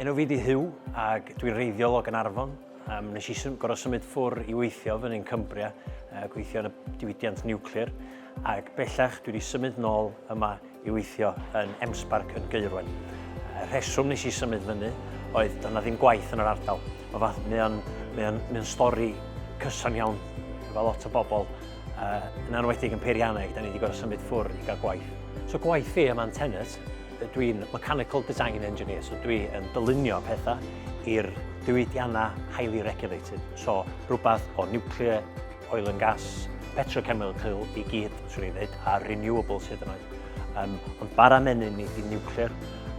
Enw fi di Huw ac dwi'n reiddiol o Ganarfon. Um, nes i sym, gorau symud ffwr i weithio fy ni'n Cumbria, uh, gweithio yn y diwydiant niwclear, ac bellach dwi wedi symud nôl yma i weithio yn Emsbarc yn Geirwen. Y rheswm nes i symud fyny oedd dyna ddim gwaith yn yr ardal. Mae fath, mae o'n, mae o'n, mae o'n stori cyson iawn efo lot o bobl, uh, yn anwedig yn peirianneg, da ni wedi gorau symud ffwr i gael gwaith. So gwaith fi yma'n tenant, Dwi'n Mechanical Design Engineer, so dwi yn dylunio pethau i'r diwydiannau highly regulated, so rhywbeth o nuclear, oil and gas, petrochemical i gyd, swn i'n dweud, a renewables hyd yn oed. Um, ond bara menyn ni di nuclear,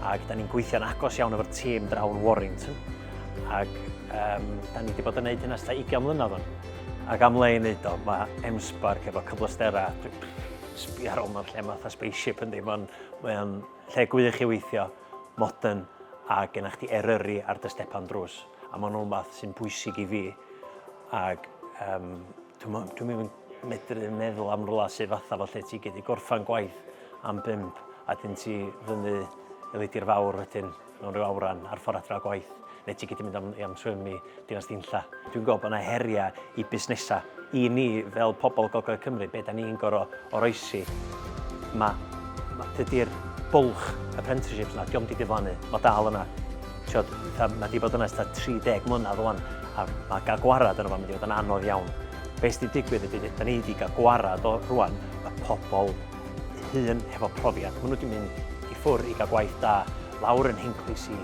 ac da ni'n gweithio'n agos iawn efo'r tîm draw yn Warrington, ac um, da ni wedi bod yn gwneud hynna sydd 20 mlynedd o'n. Ac am le i wneud o, mae M-Spark efo cyfleusterau, sbio ar ôl mewn lle mae fatha spaceship yn ddim ond Mae o'n lle gwych i weithio, modern a gennych chdi Eryri ar dy stepan drws a mae'n rhywbeth sy'n bwysig i fi ac um, dwi'n dwi ddim yn medru meddwl am rhywle sydd fatha fo lle ti gyd i gorffan gwaith am bimp a dyn ti fyny i Leidir Fawr wedyn. mewn rhyw awran ar ffordd adra o gwaith, neu ti gyd yn mynd am, am swim i Dinas Dinlla. Dwi'n gweld bod yna heriau i busnesau. I ni, fel pobl Gogledd Cymru, be da ni'n goro oroesi, mae ma, dydy'r bwlch apprenticeships yna, diolch di diflannu, mae dal yna. Tiod, mae di bod yna ystod 30 mlynedd o'n, a mae gael gwarad yn o'n mynd i fod yn anodd iawn. Be sydd wedi digwydd ydy, da ni wedi cael gwarad o rwan y pobl hŷn hefo profiad. Maen nhw wedi mynd i ffwrdd i gael gwaith da lawr yn Hinclis i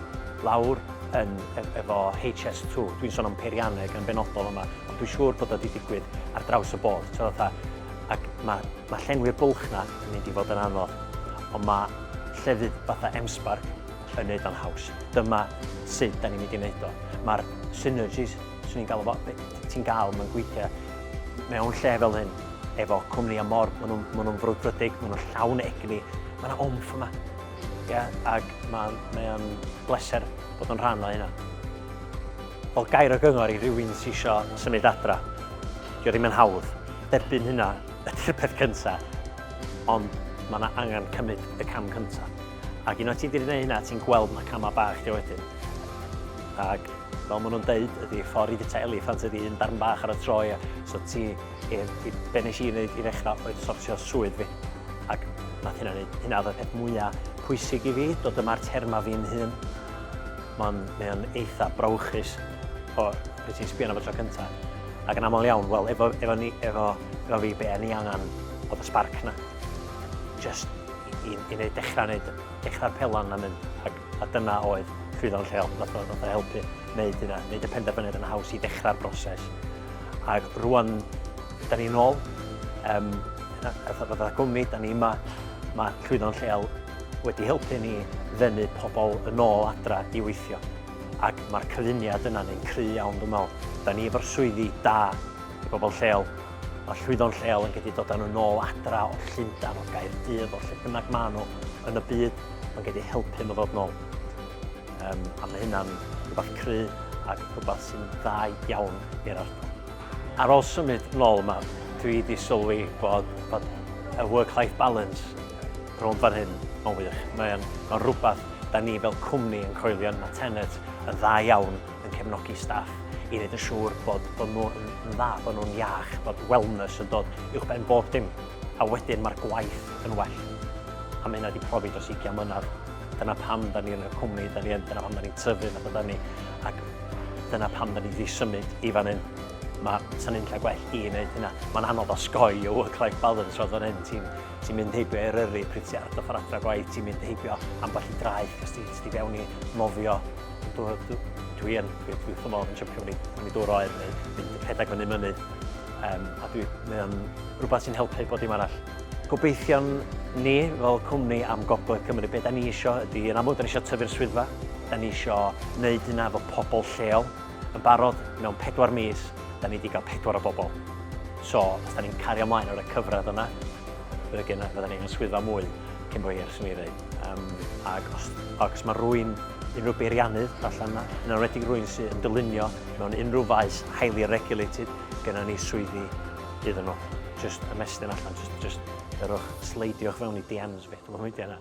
lawr yn, e, efo HS2. Dwi'n sôn am peirianneg yn benodol yma, ond dwi'n siŵr bod o wedi digwydd ar draws y bord. So, fatha, ac mae, mae llenwi'r bwlch na yn mynd i fod yn anodd, ond mae llefydd fatha M-Spark yn neud o'n haws. Dyma sut da ni'n mynd i wneud o. Mae'r synergies, swn i'n galw fo, ti'n gael, mae'n gweithio mewn lle fel hyn, efo cwmni a mor, maen nhw'n ma nhw frwdfrydig, maen nhw'n llawn egni, mae yna omff yma. Yeah, ac mae'n mae o'n bleser bod yn rhan o hynna. Wel, gair o gyngor i rywun sy'n eisiau symud adra. Dio ddim yn hawdd. Derbyn hynna ydy'r peth cyntaf. Ond mae yna angen cymryd y cam cyntaf. Ac un o ti wedi gwneud hynna, ti'n gweld mae camau bach dio wedyn. Ac fel maen nhw'n deud, ydy ffordd i fita eliffant ydy un darn bach ar y troi, so ti Ie, i- be' nesh i neud i ddechra oedd sortio swydd fi, ac nath hynna neud, hynna oedd y peth mwya pwysig i fi, dod yma a'r terma fi'n hun. Ma'n, mae o'n eitha brawychus, o, pryd ti'n sbio arno fo tro cynta. Ac yn amal iawn, wel, efo, efo ni, efo, efo fi, be' o'n i angan oedd y sbarc 'na. Jyst i, i, i neud, dechra neud, dechra'r pelan 'na mynd, ac A dyna oedd Swyddog Lleol, ddath o ddath o helpu wneud hynna, wneud y penderfyniad yn haws i ddechrau'r broses. Ac rwan, da ni'n ôl, um, fatha, fatha gwmni, da ni yma, mae Swyddog Lleol wedi helpu ni ddenu pobl yn ôl adra i weithio. Ac mae'r cyfuniad yna ni'n cry iawn dwi'n meddwl. Da ni efo'r swyddi da i bobl lleol, Mae llwyddon lleol yn gedi dod â nhw nôl adra o Llundain, o Gaerdydd, o lle bynnag maen nhw yn y byd, mae'n gedi helpu nhw ddod nôl. Um, a mae hynna'n rhywbeth cry ac rhywbeth sy'n dda iawn i'r ardal. Ar ôl symud nôl yma, dwi wedi sylwi bod, bod y work-life balance rhwng fan hyn yn wych. Mae'n ma rhywbeth da ni fel cwmni yn coelio yn Matenet yn dda iawn yn cefnogi staff i wneud yn siŵr bod, bod nhw'n yn dda, bod nhw'n iach, bod wellness yn dod uwch ben bob dim. A wedyn mae'r gwaith yn well. A mae hynna wedi profi dros 20 mlynedd. Dyna pam da ni yn y cwmni, da ni yn, dyna pam da ni'n tyfu fath da ni. Ac dyna pam da ni wedi symud i fan hyn. Mae sy'n un lle gwell i wneud hynna. Mae'n anodd osgoi y work-life balance roedd fan hyn. Ti'n ti mynd heibio eryri pryd ti ar dy ffordd adra gwaith, ti'n mynd heibio ambell i draeth, cos ti'n ti fewn i nofio Dwi yn, dwi wrth fy modd yn siwmpio fyny, fyny dŵr oer neu mynd rhedeg fyny mynydd. Um, a dwi, mae o'n rhywbeth sy'n helpu bod dim arall. Gobeithion ni fel cwmni am Gogledd Cymru, beth da ni isio ydy, yn amlwg da ni isio tyfu'r swyddfa, da ni isio wneud hynna fo pobl lleol. Yn barod, mewn pedwar mis, da ni wedi cael pedwar o bobl. So, os da ni'n cario ymlaen o'r cyfradd yna, fydda ni'n swyddfa mwy cyn bo hir, sy'n ei ddweud. Um, ac os, ac os mae rwy'n unrhyw beiriannydd allan yna, yn enwedig rwy'n sy'n yn dylunio mewn unrhyw faes highly regulated, gyda ni swyddi iddyn nhw. Just ymestyn allan, just, just yrwch, sleidiwch fewn i DMs fi, dwi'n mynd yna.